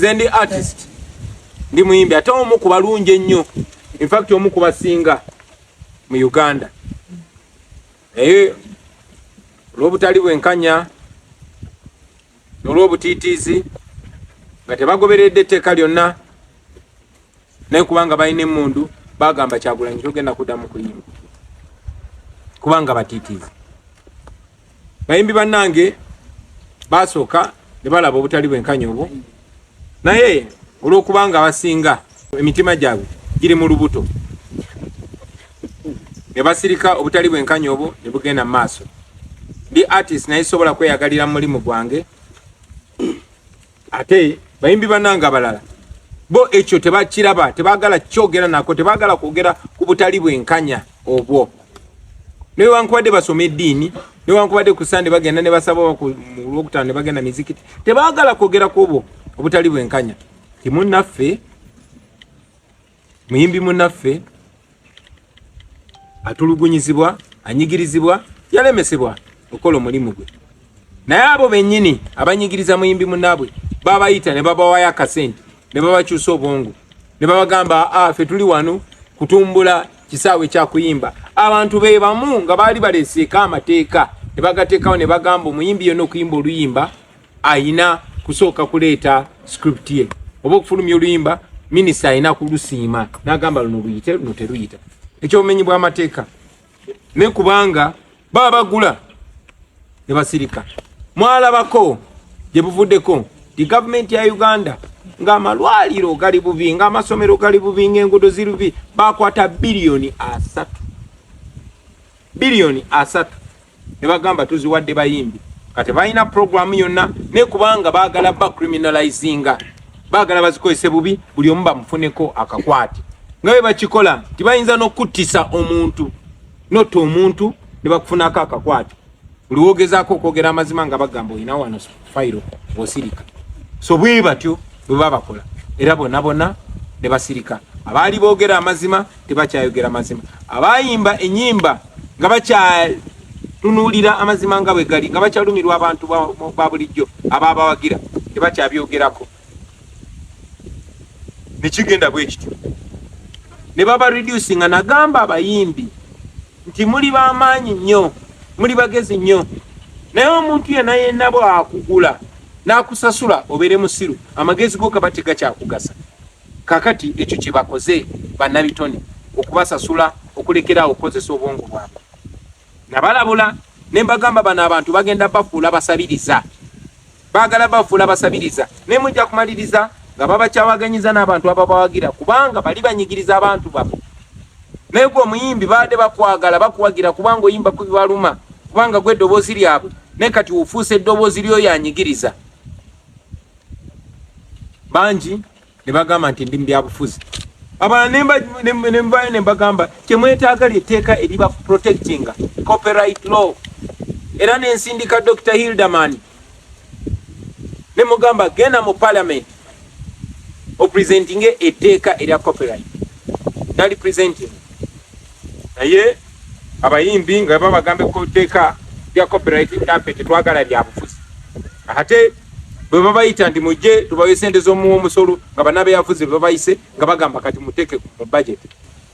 nze ndi artist ndi muyimbi ate omu ku balungi ennyo infact omu ku basinga mu uganda naye olw'obutali bwenkanya nolw'obutiitiizi nga tebagoberedde etteeka lyonna naye kubanga balina emundu bagamba kyagulanyi togenda kuddamu kuyimba kubanga batiitiizi bayimbi bannange basooka ne balaba obutali bwenkanya obwo naye olw'okubanga abasinga emitima gyabwe giri mu lubuto ne basirika obutali bwenkanya obwo ne bugenda mu maaso ndi artist naye sobola kweyagalira mu mulimu gwange ate bayimbi banange abalala bo ekyo tebakiraba tebagala kyogera nako tebagala kwogera ku butali bwenkanya obwo newankubadde basoma eddiini newankubadde ku sande bagenda ne basaba olwokutaano ne bagenda mizikiti tebagala kwogera ku obwo obutali bwenkanya timunnaffe muyimbi munaffe atulugunyizibwa anyigirizibwa yalemesebwa okola omulimu gwe naye abo benyini abanyigiriza muyimbi munabwe babayita ne babawayo akasente ne babakyusa obwongo ne babagamba ah, fe tuli wano kutumbula kisaawe kyakuyimba abantu be bamu nga baali baleseeko amateeka ne bagateekawo ne bagamba omuyimbi yona okuyimba oluyimba ayina kusooka kuleeta script ye oba okufulumya oluyimba minisita alina kulusiima nagamba luno luyite luno teruyita ekyobumenyi bwamateeka ne kubanga baba bagula ne basirika mwalabako gye buvuddeko ti gavumenti ya uganda ng'amalwaliro gali bubi ng'amasomero gali bubi ng'enguudo ziri bubi bakwata biliyoni asatu biliyoni asatu ne bagamba tuziwadde bayimbi kati balina puroguramu yonna ne kubanga baagala ba criminalizinga baagala bazikozese bubi buli omu bamufuneko akakwate nga bwe bakikola nti bayinza n'okuttisa omuntu notta omuntu ne bakufunako akakwate buli wogezaako okwogera amazima nga bagamba olina wano fayiro osirika so bwe batyo bwe babakola era bona bona ne basirika abaali boogera amazima tebakyayogera mazima abayimba enyimba nga bakyatunulira amazima nga bwegali nga bakyalumirwa abantu ba bulijjo ababawagira tebakyabyogerako nekigenda bwekityo ne baba reduce nga nagamba abayimbi nti muli bamaanyi nnyo muli bagezi nnyo naye omuntu yena yena bwakugula nakusasula obere musiru amagezi go kaba tegakyakugasa Kakati ekyo kyebakoze banabitone okubasasula okulekera awo okukozesa obwongo bwabwe. Nabalabula nembagamba bano abantu bagenda bafuula basabiriza, bagala bafuula basabiriza naye mujja kumaliriza nga babakyawaganyiza n'abantu ababawagira kubanga bali banyigiriza abantu babo. Naye gwe omuyimbi baade bakwagala bakuwagira kubanga oyimba kubibaluma kubanga gwe eddoboozi lyabwe naye kati ofuuse eddoboozi lyoyo anyigiriza. bangi ne bagamba nti ndi mu byabufuzi abalala nembayo ne mbagamba kyemwetaaga lyetteeka eriba protectinga copyright law era nensindika dr hilderman ne mugamba genda mu parliament opresentinge etteeka erya copyright nali presenting naye abayimbi nga babagambe ku tteeka lya copyright ntampe tetwagala lyabufuzi ate bwe babayita ndi mujje tubawe sente z'omuwa omusolo nga banabeyafuzi bebabayise nga bagamba kati muteeke mu budget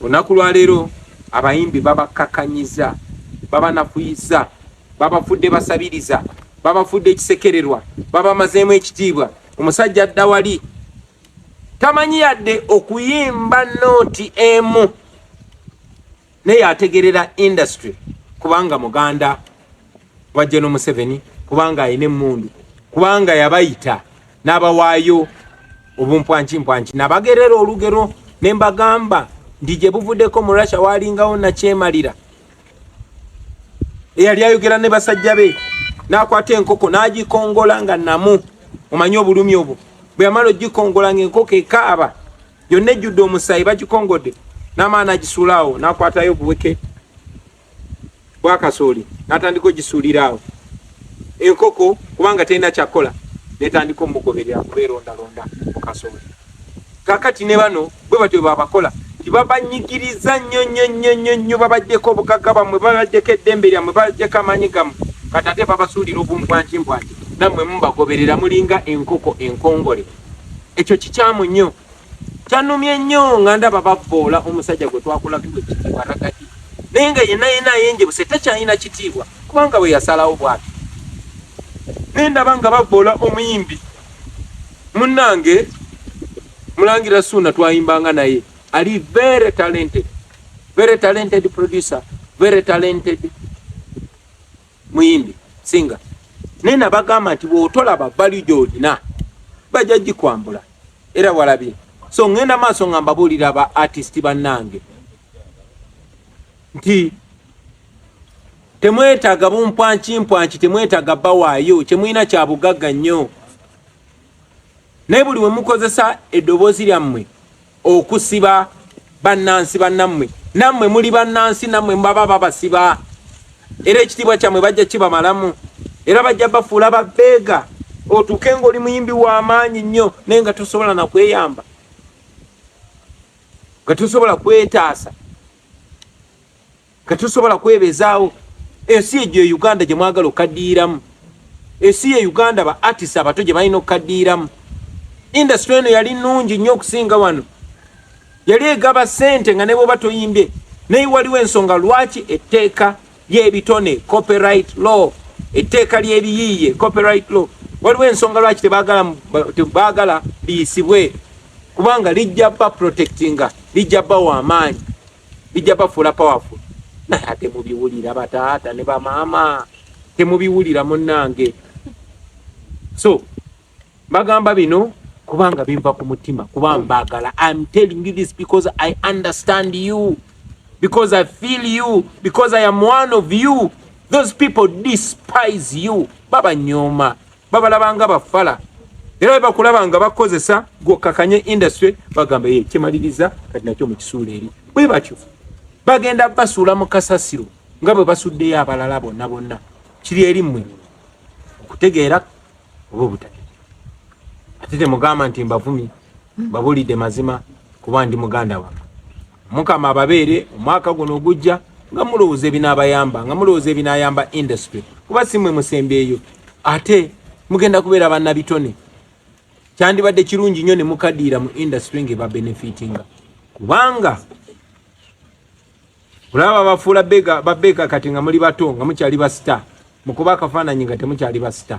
olunaku lwaleero abayimbi babakakanyiza babanafuyiza babafudde basabiriza babafudde ekisekererwa babamazeemu ekitiibwa omusajja adda wali tamanyi yadde okuyimba nooti emu naye ategerera industry kubanga muganda wa General Museveni kubanga alina emmundu kubanga yabayita n'abawaayo obumpwankimpwanki nabagerera olugero ne mbagamba nti gye buvuddeko mu Russia waalingawo nakyemalira eyali ayogera ne basajja be n'akwata enkoko n'agikongola nga namu omanyi obulumi obwo bwe yamala ogikongola ng'enkoko ekaaba yonna ejjudde omusaayi bagikongodde n'amaana agisuula awo n'akwatayo obuweke bwakasooli n'atandika ogisuulira awo enkoko kubanga terina kyakukola netandika omugoberera kubeerondalonda mu kasooli kakati ne bano bwe batyo babakola nti babanyigiriza nnyo nnyo nnyo nnyo nnyo babaddeko obugagga bamwe babaddeko eddembe lyammwe babaddeko amaanyi gammwe kati ate babasuulira obumbwanti mbwanti nammwe mubagoberera mulinga enkoko enkongole ekyo kikyamu nnyo kyanumye nnyo nga ndaba bavvoola omusajja gwe twakulagiwa ekitiibwa ragati naye nga yenna yenna ayenjebuse takyalina kitiibwa kubanga bwe yasalawo bwati naye ndaba nga bavvoola omuyimbi Munnange Mulangira Suuna twayimbanga naye ali very talented, very talented producer, very talented muyimbi singa naye nabagamba nti bwotolaba bali gyolina bajja gikwambula era walabye so ngenda maaso nga mbabuulira ba artist bannange nti Temwetaga bumpwanki mpwanki temwetaga bawaayo kyemulina kya bugagga nnyo naye buli we mukozesa eddoboozi lyammwe okusiba bannansi bannammwe nammwe muli bannansi nammwe mubaba babasiba era ekitiibwa kyammwe bajja kibamalamu era bajja bafuula babbeega otuuke ng'oli muyimbi w'amaanyi nnyo naye nga tosobola na kweyamba nga tosobola kwetaasa Tetusobola kwebezaawo ensi egyo e Uganda gye mwagala okaddiiramu, ensi ye Uganda ba artist abato gye balina okukaddiiramu. Industry eno yali nnungi nnyo okusinga wano, yali egaba ssente nga ne bwoba toyimbye, naye waliwo ensonga lwaki etteeka ly'ebitone copyright law, etteeka ly'ebiyiiye copyright law, waliwo ensonga lwaki tebaagala liyisibwe kubanga lijja ba protectinga, lijja bawa amaanyi. bijja bafuula powerful naye ate mubiwulira bataata ne bamaama temubiwulira munnange so bagamba bino kubanga binva ku mutima kuba mbagala im telling you this because i understand you because i feel you because i am one of you those people despise you babanyooma babalaba nga bafala era bakulaba nga bakozesa gwokakanye industry bagamba ye kyemaliriza kati nakyo mukisuula eri bwe batyo bagenda basuula mu kasasiro nga bwe basuddeyo abalala bonna bonna kiri eri mmwe okutegeera oba obutategeera ate temugamba nti mbavumi mbabulidde mazima kuba ndi muganda wange mukama ababeere omwaka guno ogujja nga mulowooza ebinaabayamba nga mulowooza ebinaayamba industry kuba si mwe musembeeyo ate mugenda kubeera bannabitone kyandibadde kirungi nnyo ne mukadiira mu industry ng'eba benefitinga kubanga olaba bafuula babeeka kati nga muli bato nga mukyali basita mukuba akafaananyi nga temukyali basita